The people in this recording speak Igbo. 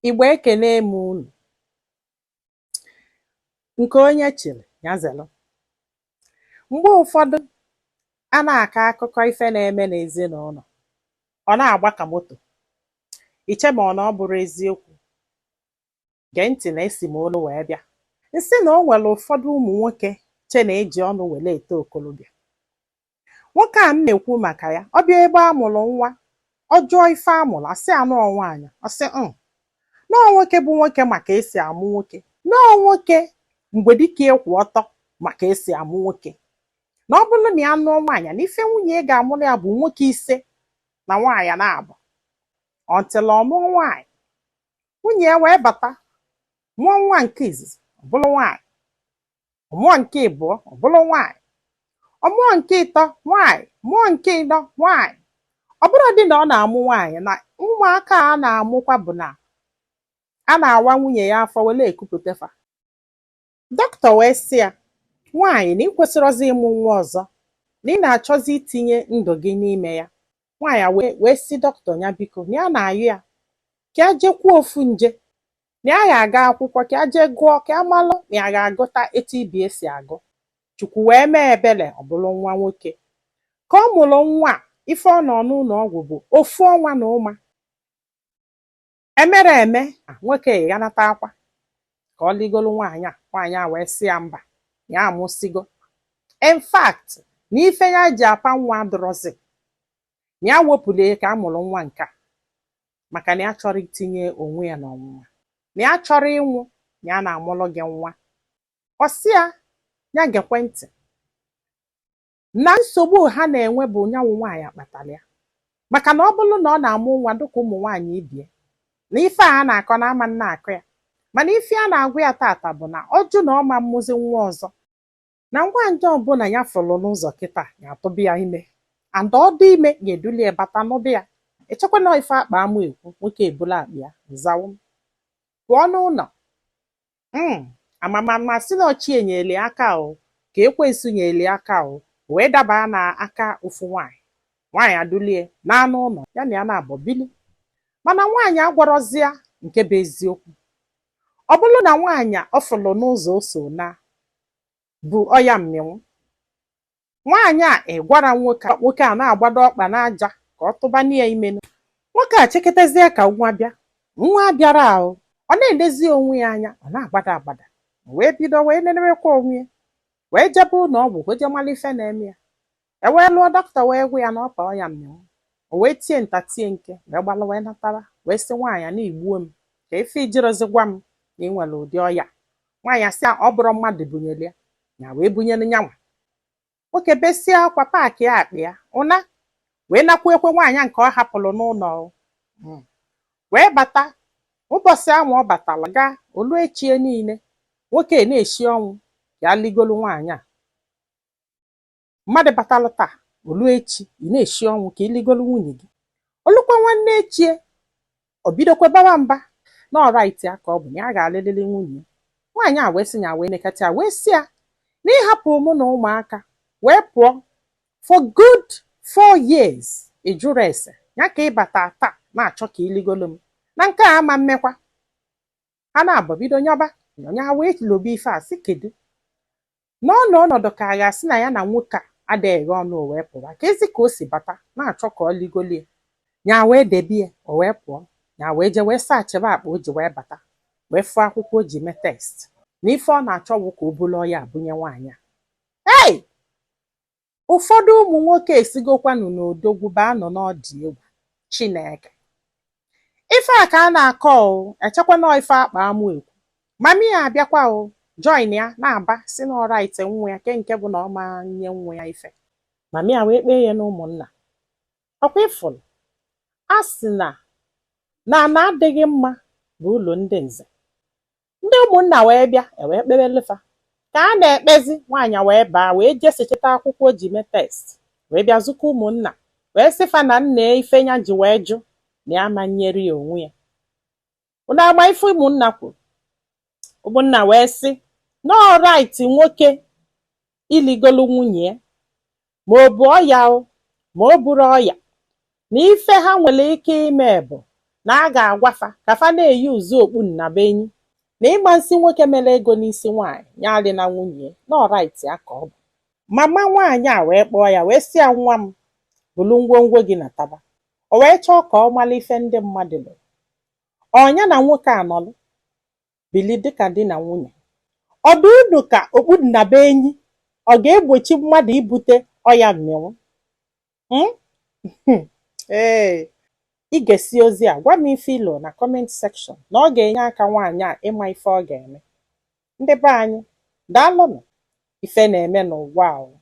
Igbo ekene m unu. Nke onye chịrị ya zere. Mgbe ụfọdụ a na-akọ akụkọ ife na-eme n'ezinụlọ, ọ na-agba ka moto. Iche ma ọ na ọ bụrọ eziokwu. Gee ntị na esi m olu wee bịa. Nsị na o nwere ụfọdụ ụmụ nwoke che na eji ọnụ were eto okolobịa. Nwoke a m na-ekwu maka ya, ọ bịa ebe a mụrụ nwa, ọ jụọ ife a mụrụ, asị ya na ọ nwaanyị, ọ sị na ọ nwoke bụ nwoke ma ka esi amụ nwoke, na ọ nwoke mgbe dịka ịkwụ ọtọ ma ka esi amụ nwoke, na ọ bụrụ na ya nụọ nwaanyị na ife nwunye ya ga-amụrụ ya bụ nwoke ise na nwaanyị naabọ until ọ nụọ nwaanyị nwunye ya wee bata mụọ nwa nke izizi ọ bụrụ nwaanyị ọ mụọ nke ịbụọ ọ bụrụ nwaanyị ọ mụọ nke ịtọ nwaanyị mụọ nke ịnọ nwaanyị ọ bụrụ dị na ọ na-amụ nwaanyị na ụmụaka a na-amụkwa bụ na a na-awa nwunye ya afọ were ekupụta fa dọkịta wee sị ya nwaanyị na ị kwesịrọzi ịmụ nwa ọzọ na ị na-achọzi itinye ndụ gị n'ime ya nwaanyị a wee sị dọkịta ya biko na ya na-ayọ ya ka ya jekwuo ofu nje na ya ga-aga akwụkwọ ka ya jee gụọ ka ya malụ na ya ga-agụta etu ibe ya si agụ chukwu wee mee ebere ọ bụrụ nwa nwoke ka ọ mụrụ nwa a, ife ọ nọ n'ụlọ ọgwụ bụ ofu ọnwa na ụma emere eme a, nwoke ịghanata akwa ka ọ ligoro nwaanyị a nwaanyị a wee sị ya mba ya amụsigo in fact na ife ya ji apa nwa adịrọzi na ya wepụrụ ya ka a mụrụ nwa nke a maka na ya achọrọ itinye onwe ya n'ọnwụnwa na ya achọrọ ịnwụ na ya na-amụrụ gị nwa ọ sị ya ya gekwe ntị na nsogbu ha na-enwe bụ nyanwụ nwaanyị kpatara ya maka na ọ bụrụ na ọ na-amụ nwa dịka ụmụ nwaanyị ibe ya na ife a na-akọ na a ma na-akọ ya mana ife a na-agwa ya tata bụ na ọ jụ na ọ ma mmụzi nwa ọzọ na nwaanyị ọbụla ya fụrụ n'ụzọ kịta ya atụba ya ime and ọ dị ime ya eduli ya bata na be ya echekwa na ife akpa amụ ekwu nwoke ebulu akpa ya nzawo pụọ n'ụlọ mm ama m ma a sị na ọ chi nyeli aka o ka ekwensu nyeli aka o wee daba na aka ofu nwaanyị nwaanyị eduli ya naa n'ụlọ ya na ya naabọ bili mana nwaanyị agwarọzi ya nke bụ eziokwu Ọ bụrụ na nwaanyị ọ fụrụ n'ụzọ o so na-ebu ọya mmịnwụ, nwaanyị a agwarọ nwoke a nwoke a na-agbado ọkpa n'aja ka ọ tụbanye ya ime nu. Nwoke a echeketezie ka nwa bịa, nwa abịarọ, ọ na-elezi onwe ya anya, ọ na-agbada agbada, o wee bido wee nenewekwa onwe ya, wee jebe ụlọ ọgwụ wee je mara ife na-eme ya. e wee luo dọkịta wee gwa ya na ọ kpa ọya mmịnwụ o wee tie nta tie nke wee gbalụ wee natara wee sị nwaanyị na i gbuo m ka ife i jirozi gwa m na ị nwere ụdị ọya nwaanyị asị ọ bụrụ mmadụ bunyere ya ya wee bunyere nyanwa nwoke besie akwa paakịa akpa ya ụna wee nakwukwe nwaanyị nke ọ hapụrụ n'ụlọ hmm. wee bata ụbọchị ahụ ọ batara taa o lu echie niile nwoke na-eshi ọnwụ ya ligolu nwaanyị a mmadụ batalụ taa o lu echi ị na-eshi ọnwụ ka i ligolu nwunye gị o lukwa nwanne echie o bidokwa baba mba na ọ right ya ka ọ bụ na ya ga-alịlịlị nwunye ya nwaanyị a wee sị ya wee nekata ya wee sị ya na ị hapụ mụ na ụmụaka wee pụọ for good four years ị jụrọ ese ya ka ị bata taa na-achọ ka i ligolu m na nke a ama mmekwa ha naabọ bido nyọba o nya wee lobe ife a sị kedu n'ọnọ ọnọdụ ka a ga-asị na ya na nwoke a adịghị ọnụ o wee pụwa keezi ka o si bata na-achọ ka ọ ligolie ya wee debe ya o wee pụọ ya wee jee wee searchịba akpa o ji wee bata wee fụọ akwụkwọ o ji mee test na ife ọ na-achọ bụ ka o bulu ọya a bunye nwaanyị a ei Ụfọdụ ụmụ nwoke esigokwanụ n'odogwu baa nọ n'ọ dị egwu Chineke. Ife a ka a na-akọ o, echekwa na ife a kpa amụ ekwu. Mami ya abịakwa o, join ya na-aba sị na ọ right nwa ya ke nke bụ na ọ ma nye nwa ya ife. Mami ya wee kpee ya n'ụmụnna. Ọkwa ịfụrụ? A sị na ana adịghị mma bụ ulu ndị nze. ndị ụmụnna wee bịa e wee kpebelu fa ka a na-ekpezi nwaanyị wee baa wee je searchịta akwụkwọ o ji mee test wee bịa zụkọ ụmụnna wee sị fa na nna ife nya ji wee jụ na ya ma nyere ya onwe ya unu ama ife ụmụnna kwuru ụmụnna wee sị na ọ right nwoke iligolu nwunye ya ma o bu ọya o ma o burọ ọya na ife ha nwere ike ime bụ na a ga-agwa fa ka fa na-e use okpu nnabuenyi na ị ma sị nwoke mere ego n'isi nwaanyị ya alịna nwunye ya na ọ right ya ka ọ bụ mama nwaanyị a wee kpọọ ya wee sị ya nwa m bulu ngwongwo gị nataba o wee chọọ ka ọ mara ife ndị mmadụ loro ọ nya na nwoke a nọlụ bili dịka di na nwunye. Ọ dị unu ka okpu nnabuenyi ọ ga-egbochi mmadụ ibute ọya mmịnwụ? Mm? Hmm. Ee. I gesịa ozi a gwa m ife i lo na comment section na ọ ga-enye aka nwaanyị a ịma ife ọ ga-eme. Ndị be anyị, daalụnụ. Ife na-eme n'ụwa o.